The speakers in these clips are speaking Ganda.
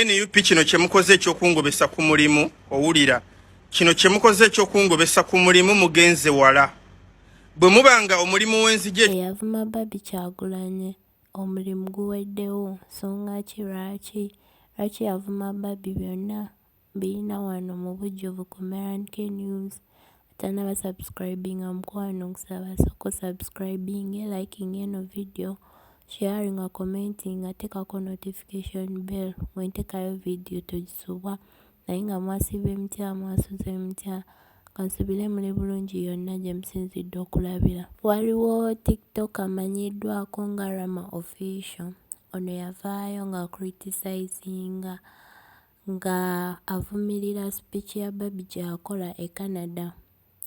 nup kino kyemukoze ekyokungobesa ku mulimu owulira kino kyemukoze ekyokungobesa ku mulimu mugenze wala bwe mubanga omulimu w'enzije eyavuma babi kyagulanye omulimu guweddewo nsonga ki lwaki lwaki yavuma babi byonna Biyina wano mubujjuvu ku Merank News. Atanaba subscribinga mukwano nkusaba soko subscribinge, liking eno video, sharing, commenting, atekako notification bell. Mwentekayo video tojisubwa. Naye nga mwasiba emitya, mwasuza emitya. Kansubire muli bulungi yonna gye musinzidde okulabira. Waliwo TikTok amanyiddwako nga Rama Official. Ono yavaayo nga criticizinga nga avumirira speech ya Barbie gyakola e Canada.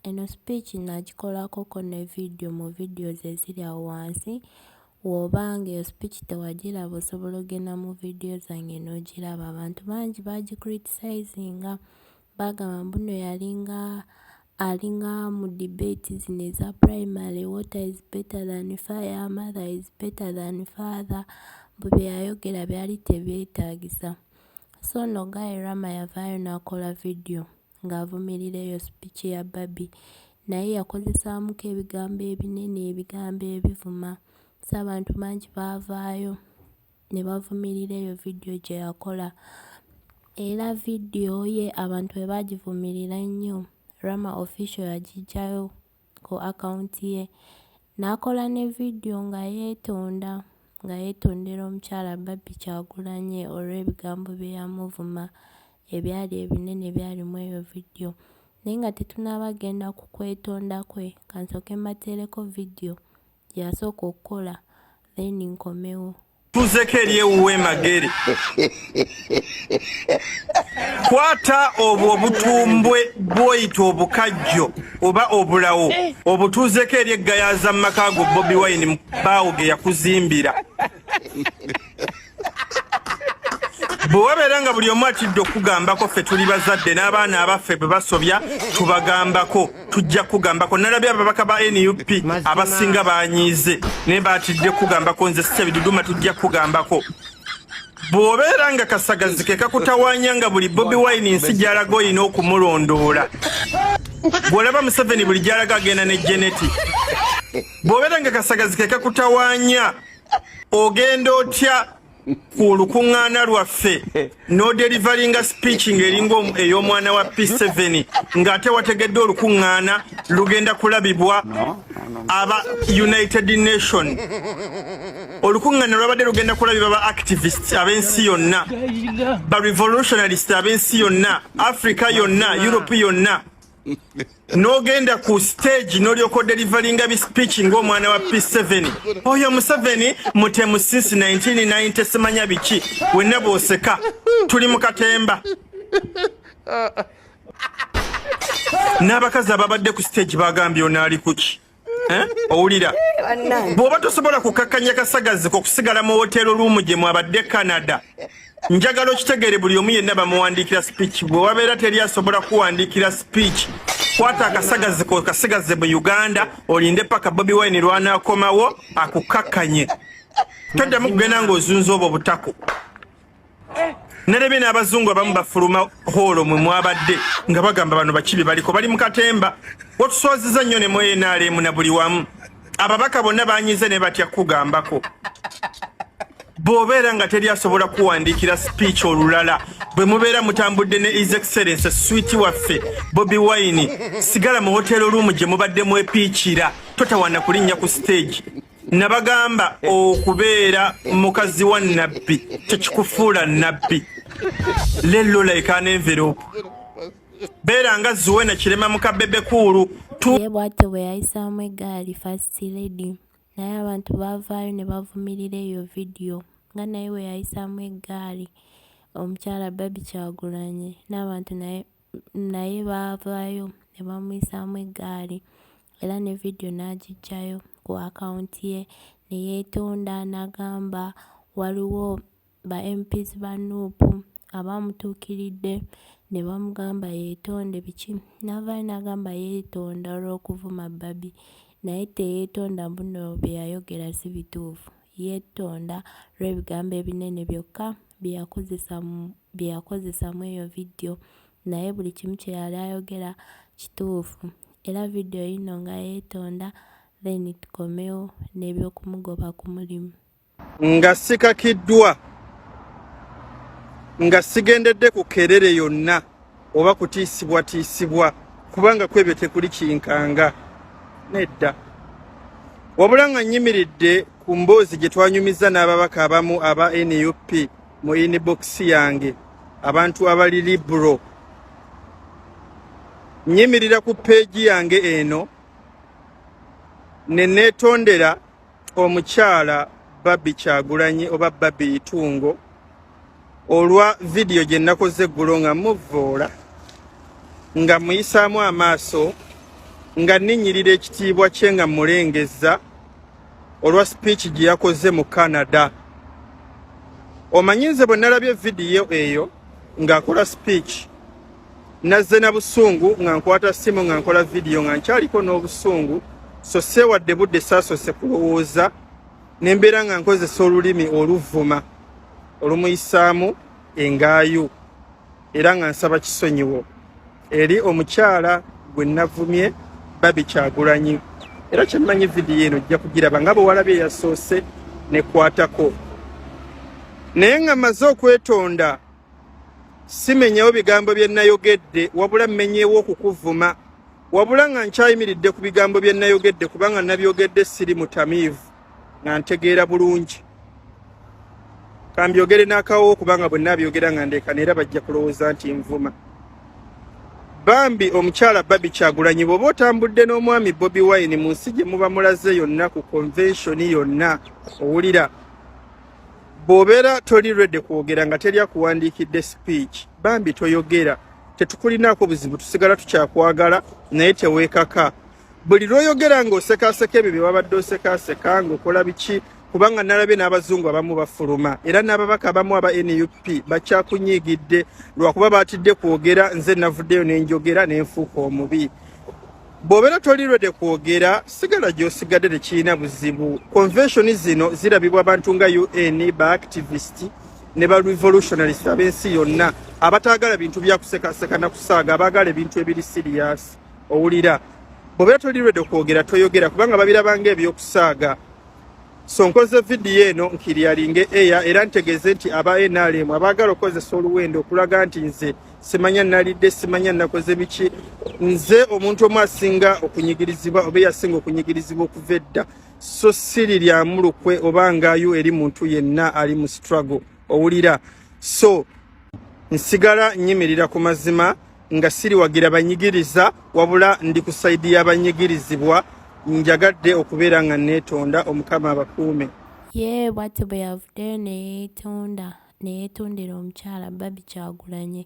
Eno speech nagikolako ko ne video mu videos eziri awo wansi woba nga eyo speech tewagiraba osobola ogenda mu video zange n'ogiraba abantu bangi bagicritisayizinga bagamba mbuno yalinga alinga mu debate zino eza primary water is better than fire mother is better than father mbu byeyayogera byali tebyetagisa So no guy Rama yavaayo n'akola vidiyo ng'avumirira eyo sipiiki ya Barbie naye yakozesaamuko ebigambo ebinene ebigambo ebivuma so abantu bangi baavaayo ne bavumirira eyo vidiyo gye yakola era vidiyo ye abantu bwe baagivumirira ennyo Rama official yagiggyayo ku akawunti ye n'akola ne vidiyo nga yeetonda nga yeetondera omukyala Barbie Kyagulanyi olw'ebigambo bye yamuvuma ebyali ebinene ebyali mu eyo vidiyo naye nga tetunaaba kugenda ku kwetonda kwe ka nsooke mbateereko vidiyo gyasooka okukola then nkomewo tuzeko eri ewuwe magere kwata obwo obutumbwe bwoyita obukajjo oba obulawo obutuzeko eri eggayaza mu maka ago bobi wine baawo ge yakuzimbira bwe wabeera nga buli omu atidde okukugambako ffe tuli bazadde n'abaana abaffe bwe basobya tubagambako tujja kukugambako nalabye ababaka ba nup abasinga banyiize naye batidde kukugambako nze sisebiduduma tujja kukugambako bw'obeera nga kasagazi ke kakutawanya nga buli bobi wine nsi gyalaga olina okumulondoola bw'olaba museveni buli gyalaga agenda ne geneti bw'obeera nga kasagazi ke kakutawanya ogenda otya ku olukuŋŋaana lwaffe n'oderivalinga speech ng'eringa ey'omwana wa p7 ng'ate wategedde olukuŋŋaana lugenda kulabibwa aba united nation olukuŋŋaana lwabadde lugenda kulabibwa ba activist ab'ensi yonna ba revolutionalist ab'ensi yonna africa yonna europe yonna nogenda ku stage nolyoka odelivalinga bi speech ngaomwana wa p7 oyo museveni mutemu since 1990 simanya biki wenna bwoseka tuli mu katemba n'abakazi ababadde ku stage bagambye onaali kuki Eh? owulira bw'oba tosobola kukakkanya kasagazi kokusigala mu woteero luumu gye mwabadde canada njagala okitegeere buli omu yenna bamuwandiikira speech bwe wabeera teri asobola kuwandiikira speech kwata akasagazi kokasigaze mu uganda olinde paka bobi wine lwanakomawo akukakkanye toddamu kugenda ng'ozunza obwo butako nerebe n'abazungu abamu bafuluma hoolo mwe mwabadde nga bagamba bano bakibi baliko bali mu katemba watuswaziza nnyo ne mwenaalemu na buli wamu ababaka bonna banyize ne batya kukugambako bw'obeera nga teri asobola kuwandiikira speech olulala bwe mubeera mutambudde ne his excellence switi waffe bobi wine sigala mu hoteero luumu gye mubadde mwepiikira totawana kulinnya ku siteegi nabagamba okubeera mukazi wa nabbi tekikufuula nabbi lello laikana envelope beera nga zuwena kirema mukabebe kuulu ye bwatyo bwe yayisaamu egaali first lady naye abantu baavaayo ne bavumirira eyo vidiyo nga naye bwe yayisaamu egaali omukyala babi kyagulanyi n'abantu naye naye baavaayo ne bamuyisaamu egaali era ne vidiyo n'agiggyayo ku akawunti ye ne yeetonda n'agamba waliwo ba MPs ba nup abaamutuukiridde ne bamugamba yeetonde biki n'avaayo n'agamba yeetonda olw'okuvuma babi naye teyeetonda mbuno bye yayogera si bituufu yetonda lwebigambo ebinene byokka byeyakozesa byeyakozesa mweyo video naye buli kimu kyeyali ayogera kituufu era video yino nga yetonda then tukomewo nebyokumugoba kumulimu nga sikakiddwa nga sigendedde ku kerere yonna oba kutiisibwatiisibwa kubanga kwebyo tekuli kinkanga nedda wabula nga nyimiridde ku mboozi gye twanyumizza n'ababaka abamu aba nup mu inibokisi yange abantu abali libro nyimirira ku peegi yange eno ne neetondera omukyala babi kyagulanyi oba babi itungo olwa vidiyo gye nnakoze eggulo nga muvvoola nga muyisaamu amaaso nga nninyirira ekitiibwa kye nga mulengezza olwa sipiiki gye yakoze mu canada omanyi nze bwe nalabye vidiyo eyo ng'akola sipiiki Nazze na busungu nga nkwata simu nga nkola vidiyo nga nkyaliko n'obusungu so seewadde budde saasose kulowooza ne mbeera nga nkozesa olulimi oluvuma olumuyisaamu engaayu era nga nsaba kisonyiwo eri omukyala gwe navumye babi kyagulanyi era kyemmanyi vidiyo eno ojja kugiraba nga bwewalabye yasoose nekwatako naye nga maze okwetonda simenyewo bigambo bye nayogedde wabula mmenyewo okukuvuma wabula nga nkyayimiridde ku bigambo bye nayogedde kubanga nabyogedde siri mutamiivu nga ntegeera bulungi kambyogere n'akawowo kubanga bwe nabyogera nga ndeekana era bajja kulowooza nti nvuma bambi omukyala babi kyagulanyi bwoba otambudde n'omwami bobi wine mu nsi gye muba mulaze yonna ku konvenshoni yonna owulira bw'obeera toli redi kwogera nga teri akuwandiikidde sipiiki bambi toyogera tetukulinaako buzibu tusigala tukyakwagala naye teweekaka buli lw'oyogera ng'osekaseka ebyo bye wabadde osekaseka ng'okola biki kubanga nalabye n'abazungu abamu bafuluma era n'ababaka abamu aba nup bakyakunyiigidde lwakuba baatidde kwogera nze navuddeyo ne njogera ne nfuuka omubi bw'obeera toli rwede kwogera sigala gy'osigadde tekirina buzibu convention zino zirabibwa abantu nga un ba activist ne ba revolutionalist ab'ensi yonna abataagala bintu byakusekaseka na kusaaga abaagala ebintu ebiri siriyasi owulira bw'obeera toli rwede kwogera toyogera kubanga babirabanga eby'okusaaga So nkoze vidiyo eno nkiryalinge eya era ntegeeze nti aba NRM abaagala okukozesa oluwendo okulaga nti nze simanya nalidde simanya nakoze biki nze omuntu omu asinga okunyigirizibwa oba eyasinga okunyigirizibwa okuva edda so siri lyamu lukwe oba ngaayo eri muntu yenna ali mu struggle owulira so nsigala nyimirira ku mazima nga siriwagira banyigiriza wabula ndi ku saidi y'abanyigirizibwa njagadde okubeera nga neetonda omukama abakuume ye bwati bwe yavudde neyeetonda neyeetondera omukyala babi kyagulanye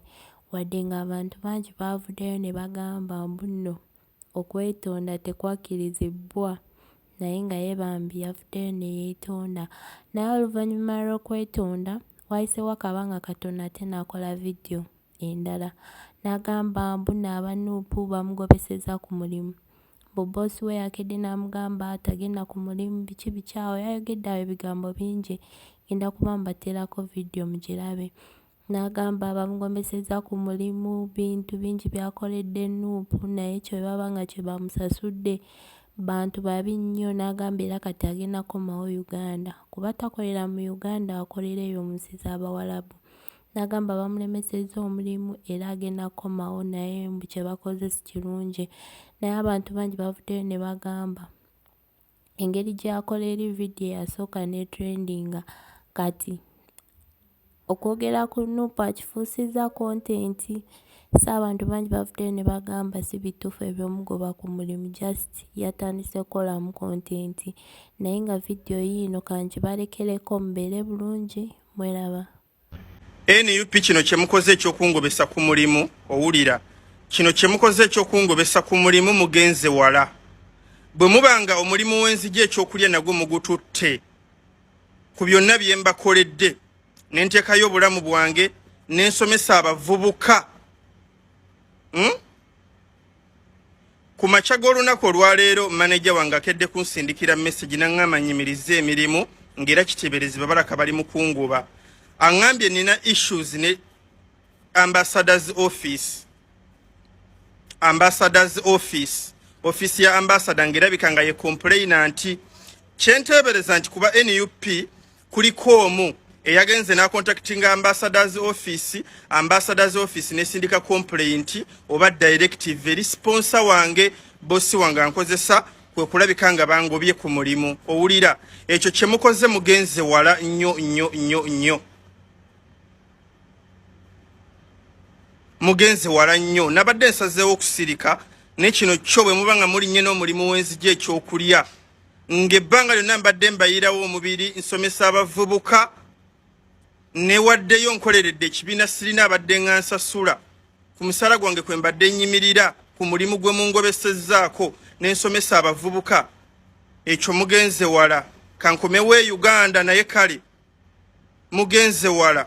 wadde ng'abantu bangi baavuddeyo ne bagamba mbu nno okwetonda tekwakirizibbwa naye nga ye bambi yavuddeyo ne yeetonda naye oluvannyuma lw'okwetonda wayiseewo akabanga katono ate n'akola vidiyo endala nagamba mbu naaba nup bamugobeseza ku mulimu mbu boss we yakedde namugamba tagenda ku mulimu biki biki awo yayogedde awo ebigambo bingi ngenda kuba mbatelako video mugirabe nagamba bamugobeseza ku mulimu bintu bingi byakoledde nup naye kyebaba nga kyebamusasudde bantu babi nnyo nagamba era kati agenda komawo uganda kuba takolera mu uganda akolera eyo munsi zabawalabu n'agamba bamulemesezza omulimu era agenda kukomawo naye mbu kye bakoze si kirungi naye abantu bangi bavuddeyo ne bagamba engeri gy'akola eri vidiyo eyasooka ne trendinga kati okwogera ku nupu akifuusizza kontenti so abantu bangi bavuddeyo ne bagamba si bituufu ebyomugoba ku mulimu just yatandise kukolamu kontenti naye nga vidiyo yiino kangibarekereko mubeere bulungi mweraba nup kino kyemukoze ekyokungobesa ku mulimu owulira kino kyemukoze ekyokungobesa ku mulimu mugenze wala bwe muba nga omulimu w'enzigi ekyokulya nagwo mugututte ku byonna bye mbakoledde ne nteekayo obulamu bwange ne nsomesa abavubuka hmm? Ku makya g'olunaku olwaleero maneja wange akedde kunsindikira mesegi naŋŋamba nyimirize emirimu ng'era kiteeberezebwa balaka bali mu kunguba aŋŋambye nina issues ne ambassadors office ambassadors office ofiisi ya ambasada ng'erabika nga ye kompuleyina nti kyenteebereza nti kuba nup kuliko omu eyagenze nakontaktinga ambassadors office ambassadors office nesindika complaint oba directive eri sponsor wange bosi wange ankozesa kwe kulabika nga bangobye ku mulimu owulira ekyo kye mukoze mugenze wala nnyo nnyo nnyo nnyo mugenze wala nnyo nabadde nsazeewo okusirika naye kino kyo bwe muba nga mulinnye n'omulimu w'enzija ekyokulya ng'ebbanga lyonna mbadde mbayirawo omubiri nsomesa abavubuka newaddeyo nkoleredde ekibiina sirina abadde nga nsasula ku musala gwange kwe mbadde nnyimirira ku mulimu gwe mungobesezzaako ne nsomesa abavubuka ekyo mugenze wala kankomewo e uganda naye kale mugenze wala